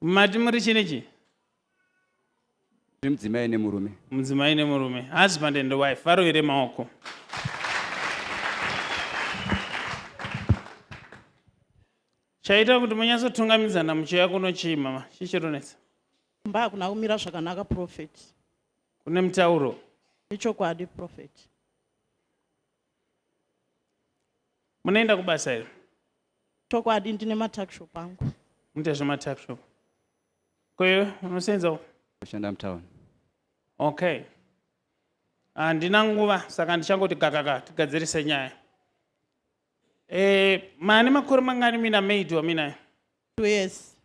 mati muri chini chi mudzimai nemurume mudzimai nemurume husband and wife varovere maoko chaita kuti munyatsotungamidzana muchiuya kuno chii mama chichironetsa mba hakuna kumira zvakanaka profet kune mutauro ichokwadi profet munoenda kubasa here chokwadi ndine matakshop angu munoita zvematakshop koyo unosenza kushanda mutown okay handina nguva saka ndichangoti gakaka tigadzirise nyaya e, mane makore mangani mina maid waminayo Two years.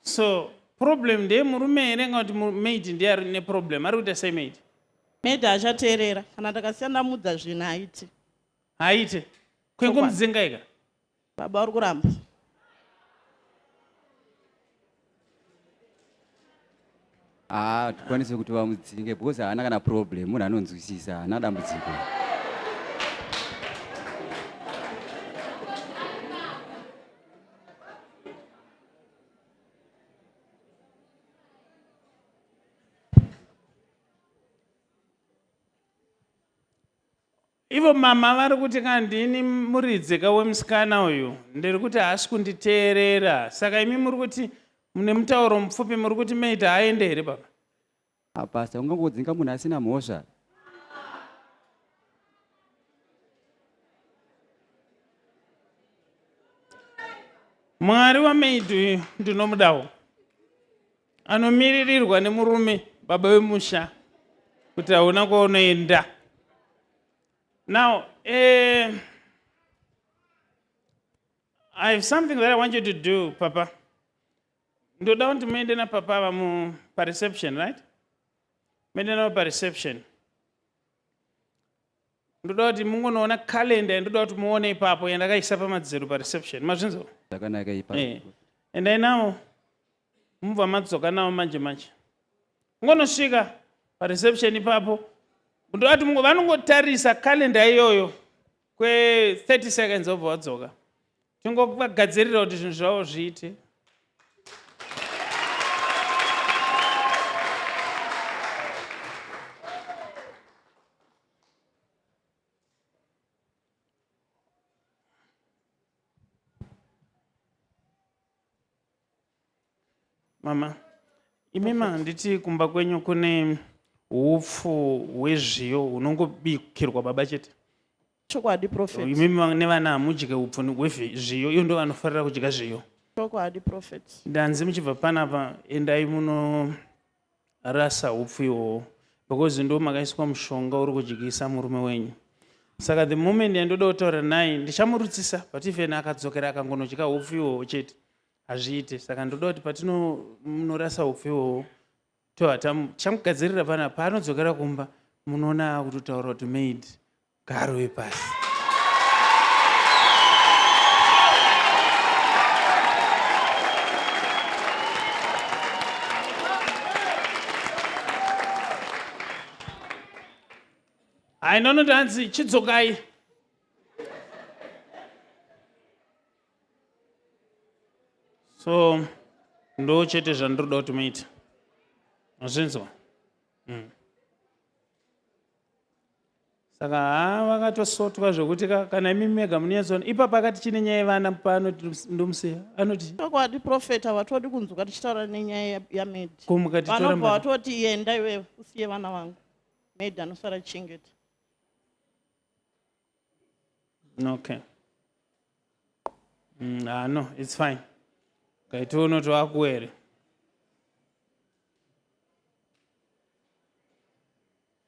so problem ndeye murume here nga kuti maid ndiye ari neproblem ari kuita sei maid maid achateerera kana ndakasiya ndamudza zvinhu haiti haite kwengomuzengaika Baba uri kuramba. Ah, tikwanise kuti vamudzinge because haana kana problem, munhu anonzwisisa, haana dambudziko. Ivo mama vari kuti kana ndini muridzi ka wemusikana uyu ndiri kuti haasi kunditeerera saka imi muri kuti mune mutauro mupfupi muri kuti meita aende here baba apasta ah, ungangodzinga munhu asina mhosva mwari wamaid uyu ndinomudawo anomiririrwa nemurume baba vemusha kuti hauna kwaunoenda now eh, i have something that i want you to do papa ndoda kuti muende napapa ava mu pareception right muende navo pareception ndoda kuti mungonoona calenda yandoda kuti muone ipapo yandakaisa pamadziro pareception mazvinzo zvakanaka ipapo eh, endai navo mubva madzoka navo manje manje ungonosvika pareception ipapo ndovati vanongotarisa kalenda iyoyo kwe30 seconds obva vadzoka tingogadzirira kuti zvinhu zvavo zviite mama imima handiti kumba kwenyu kune upfu hwezviyo hunongobikirwa baba chete chokwadi prophet imima nevana hamudye upfu hwezviyo iyo ndo vanofarira kudya zviyo chokwadi prophet ndanzi muchibva panapa endai muno rasa hupfu ihwohwo because ndo makaiswa mushonga uri kudyisa murume wenyu saka the moment yandoda kutaura naye ndichamurutsisa but even akadzokera akangonodya hupfu ihwohwo chete hazviite saka ndoda kuti patinonorasa hupfu ihwohwo tohata chamugadzirira pana paanodzokera kumba munoona akutotaura kuti maid Garwe pasi. Hai nono tanzi chidzokai. So ndo chete zvandiroda kuti muite. Azvinzwa? Mm. saka haa vakatosotwa zvekuti kana imi mega munonyatsoona ipapa akati chine nyaya yevana pano ndomusiya anoti chokwadi profeta vatodi kunzwa tichitaura nenyaya yamedvanobva vatoti yenda iwe usiye vana vangu med anosara chingeti okay mm, ah, no its fine kaiti unoti wakuwere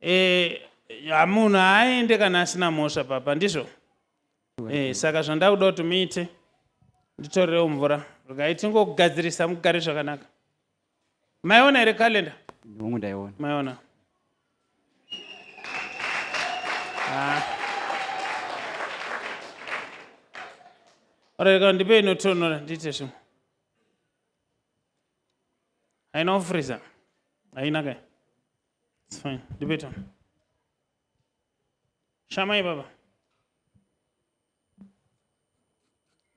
Eh, ya, munhu haaende kana asina mhosva papa ndizvo eh, saka zvandaa kuda kuti muite nditorerewo mvura regai tingogadzirisa mugare zvakanaka maiona here kalenda hongu ndaiona maiona Ah. Alright, ka ndipei inotonhora ndiite zvimwe haina kufriza haina kai its fine ndipeta shamai baba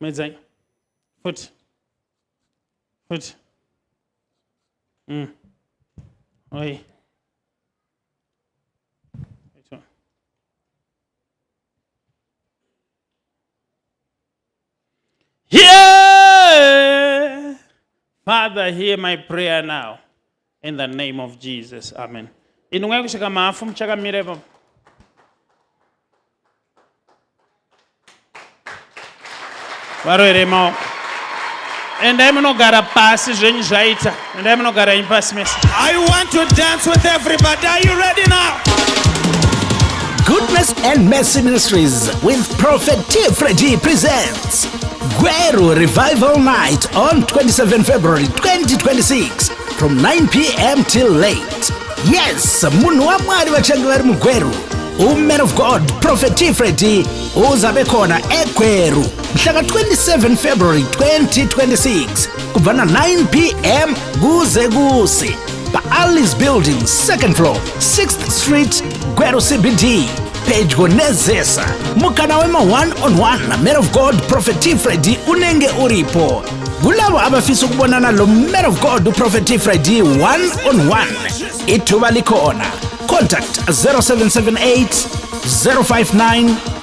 medzai futi futi mm. oi Hear, Father, hear my prayer now. In the name of Jesus. Amen. Inu mwaye kusvika mafu muchakamira ipapo. Varoere maoko. Endai munogara pasi zvenyu zvaita. Endai munogara imi pasi mese. I want to dance with everybody. Are you ready now? Goodness and Mercy Ministries with Prophet T. Freddy presents Guero Revival Night on 27 February 2026 from 9 p.m. till late. Yes, munhu wamwari vachange vari mugweru uman of god prophet t freddy uzabe khona egweru mhlaka 27 february 2026 kubva na9 pm kuze kusi paalice building second floor 6th street gweru cbd pedyo nezesa mukana wema-one on one naman of god prophet t fredi unenge uripo kulavo abafisa ukubonana lo man of god uprofet ifredi 1 on 1 ithuba likhona contact 0778 059